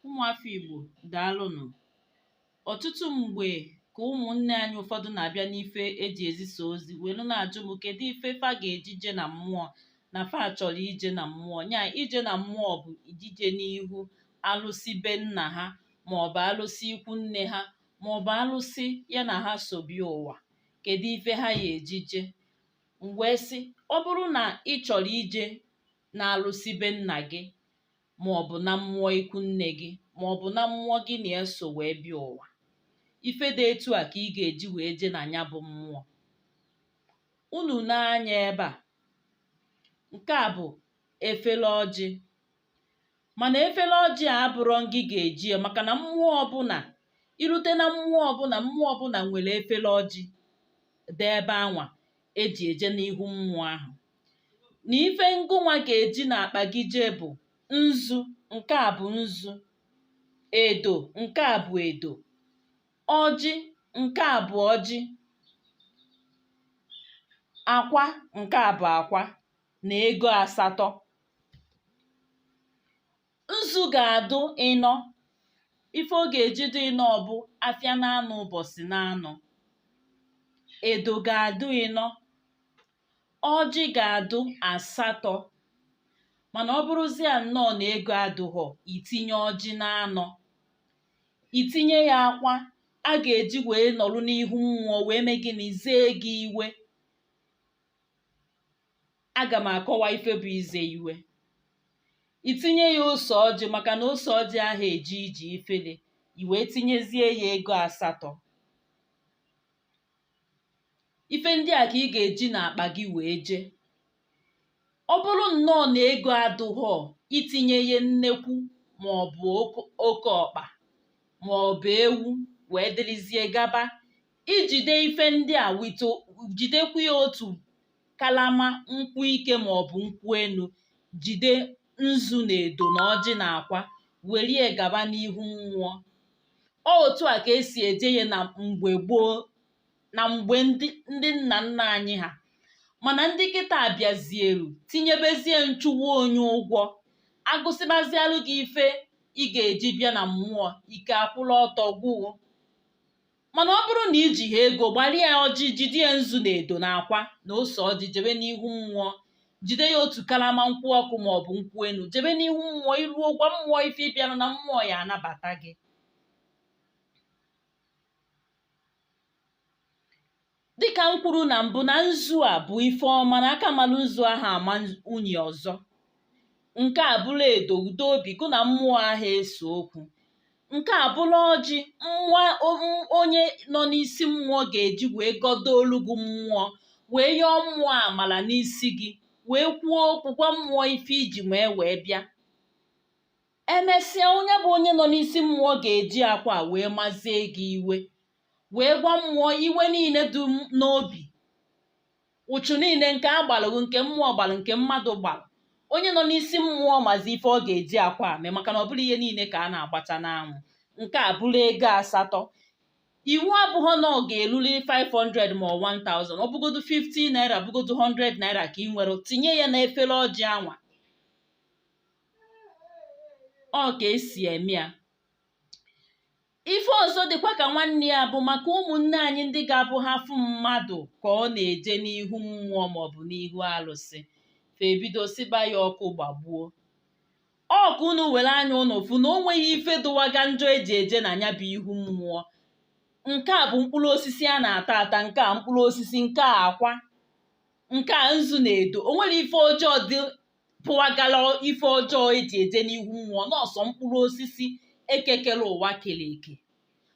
ụmụafọ Igbo daalụnụ ọtụtụ mgbe ka ụmụnne anyị ụfọdụ na-abịa n'ife eji ezisa ozi welu na-ajụ m kedu ife fa ga-eji je na mmụọ na fa chọrọ ije na mmụọ nya ije na mmụọ bụ ijije n'ihu alụsị be nna ha ma ọ bụ alụsị ikwu nne ha ma ọ bụ alụsị ya na ha so bịa ụwa kedu ife ha ya-eji je m wee sị ọ bụrụ na ị chọrọ ije na alụsị be nna gị ma ọ bụ na mmụọ ikwu nne gị ma ọ bụ na mmụọ gị na ya so wee bịa ụwa ife dị etu a ka ị ga-eji wee jee na nya bụ mmụọ unu nee anya ebe a nke a bụ efele ọjị mana efele ọjị a abụrọ ngị ga-eji ya maka na mmụọ ọbụla irute na mmụọ ọbụla mmụọ ọbụla nwere efele ọjị dị ebe anwa eji eje n'ihu mmụọ ahụ na ife ngụnwa ga-eji n'akpa gị jee bụ nzu nke a bụ nzu edo nke a bụ edo ọjị nke a bụ ọjị akwa nke a bụ akwa na ego asatọ nzu ga-adụ ịnọ ife ọ ga-eji dị ịnọ bụ afịa na anọ ụbọsị na anọ edo ga-adụ ịnọ ọjị ga-adụ asatọ mana ọ bụrụzie nnọọ na ego adụghọ itinye ọjị na anọ itinye ya akwa a ga-eji wee nọrụ n'ihu mmụọ wee mee gịnị zee gị iwe aga m akọwa ife bụ ize iwe itinye ya ose ọjị maka na ose ọjị aha eje ije ifele i wee tinyezie ya ego asatọ ife ndị a ka ị ga-eji n'akpa gị wee jee ọ bụrụ nnọọ na ego adụghọ itinye ya nnekwu ma ọ bụ oke ọkpa ma ọ bụ ewu wee dịrịzie gaba ijide ife ndị a wee jidekwa ya otu kalama nkwụ ike ma ọ bụ nkwụ enu jide nzu na edo na ọjị na akwa werie gaba n'ihu mmụọ ọ otu a ka esi eje ya na mgbe gboo na mgbe ndị nna nna anyị ha mana ndị kịta abịazielu tinyebezie nchụwa onye ụgwọ agụsịbazialụ gị ife ị ga-eji bịa na mmụọ ike akwụla ọtọ gwụọ mana ọ bụrụ na ijiha ego gbalịa ọjị jide ya nzu na edo na akwa na ose ọjị jebe n'ihu mmụọ jide ya otu kalama nkwụ ọkụ ma ọ bụ nkwụ enu jebe n'ihu mmụọ iruo gwa mmụọ ife ịbịanụ na mmụọ ya anabata gị dịka m kwuru na mbụ na nzu a bụ ife ọma na aka malụ nzu ahụ ama unyi ọzọ nke a bụrụ edo udo obi gụ na mmụọ ahụ ese okwu nke a bụrụ ọjị nwa onye nọ n'isi mmụọ ga-eji wee gọdoolu gị mmụọ wee yọọ mmụọ amala n'isi gị wee kwuo okwu gwa mmụọ ife iji mee wee bịa emesịa onye bụ onye nọ n'isi mmụọ ga-eji akwa wee mazie gị iwe wee gwa mmụọ iwe niile dị n'obi uchu niile nke a gbalụ gị nke mmụọ gbalụ nke mmadụ gbalụ onye nọ n'isi mmụọ mazi ife ọ ga-eji akwa mee maka na ọ bụrọ ihe niile ka a na-agbacha n'anwụ nke a bụrụ ego asatọ iwu abụghọ na ọ ga-eruli 500 ma 1000 ọ bụgodu 50 naira bụgodu 100 naira ka ị nwere tinye ya na efere ọjị anwa ọ ka esi eme ya ife ọzọ dịkwa ka nwanne ya bụ maka ụmụnne anyị ndị ga-abụ ha fụ mmadụ ka ọ na-eje n'ihu mmụọ maọbụ n'ihu alụsị fa ebido sịba ya ọkụ gbagbuo ọ ka unu were anya ụnụ fụ na o nweghị ife dụwaga njọ eji eje na ya bụ ihu mmụọ nke a bụ mkpụrụ osisi a na-ata ata nke a mkpụrụ osisi nke a akwa nke a nzu na edo o nwere ife ọjọọ dị pụwagala ife ọjọọ eji eje n'ihu mmụọ na ọ sọ mkpụrụ osisi eke kere ụwa kere eke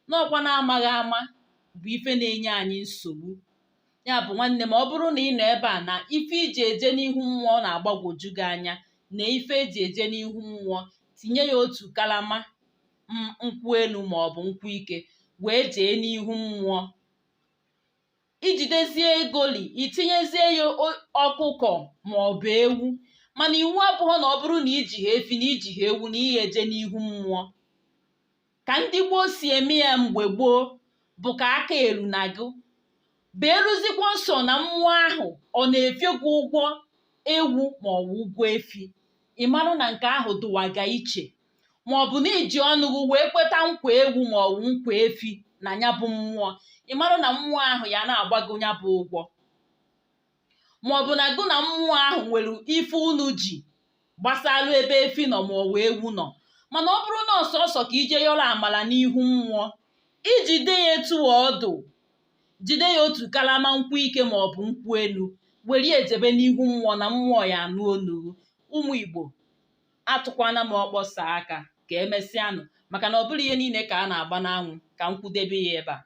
na ọ kwa na amaghị ama bụ ife na-enye anyị nsogbu ya bụ nwanne m ọ bụrụ na ị nọ ebe a na ife iji eje n'ihu mmụọ na-agbagwoju gị anya na ife eji eje n'ihu mmụọ tinye ya otu kalama nkwụ enu ma ọ bụ nkwụ ike wee jee n'ihu mmụọ ijidezie egoli itinyezie ya ọkụkọ ma ọ bụ ewu mana iwu abụghọ na ọ bụrụ na ijighị efi na ijighị ewu na ihe eje n'ihu mmụọ ka ndị gboo si eme ya mgbe gboo bụ ka aka eruna gị beeruzikwa sọ na mmụọ ahụ ọ na-efe gị ụgwọ ewu ma ọ bụ ụgwọ efi ị marụ na nke ahụ dụwaga iche ma ọ bụ na iji ọnụ gị wee kweta nkwa ewu ma ọ bụ nkwa efi na ya bụ mmụọ ị marụ na mmụọ ahụ ya na-agba gị ya bụ ụgwọ ma ọ bụ na gị na mmụọ ahụ nwere ife unu ji gbasalụ ebe efi nọ ma ọ bụ ewu nọ mana ọ bụrụ na ọ sọsọ ka ije yọrọ amala n'ihu mmụọ ijide ya etu ọ dụ jide ya otu kalama nkwụ ike ma ọ bụ nkwụ enu were jebe n'ihu mmụọ na mmụọ ya anụ onu gị ụmụ igbo atụkwana m ọkpọ saa aka ka emesịanụ maka na ọ bụrọ ihe niile ka a na-agba n'anwụ ka m kwudebe ya ebe a